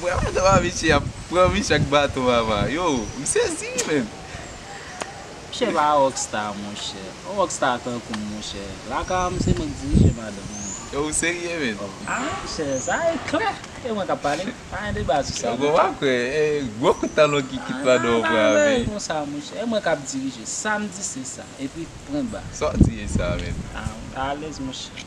Mwen pa tro anvi chien ap pran biche ak baton mama yo m sezi wi menn. Misye pa rock star monchè. Yon rock star tankoum monchè. Lakay an se mwen k dirije madanm mwen. Yo ou serye menn. A monchè sa e klè. E mwen kap pale. Pa gen deba sou sa non. Yo konn pa kwè. E gwo kout talon ki kit madanm ou pran ave. Bagay konsa monchè. E mwen kap dirije. Sam di se sa. Epi pwen ba. Sa w di e sa menn. A mwen pa alèz monchè.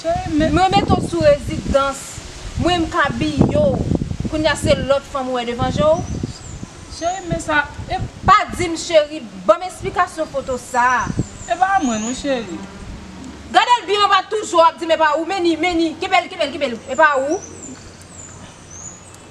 Cheri men. Mwen mete w sou rezidans. Mwen m k abiye w. Kounya se lòt fanm ou wè devan je w? Cheri men sa e. Pa di m cheri, ban m esplikasyon foto sa. E pa mwen non cheri. Gade l byen w pa toujou ap di m e pa ou, men ni, men ni, kenbe l, kenbe l, kenbe l, e pa ou.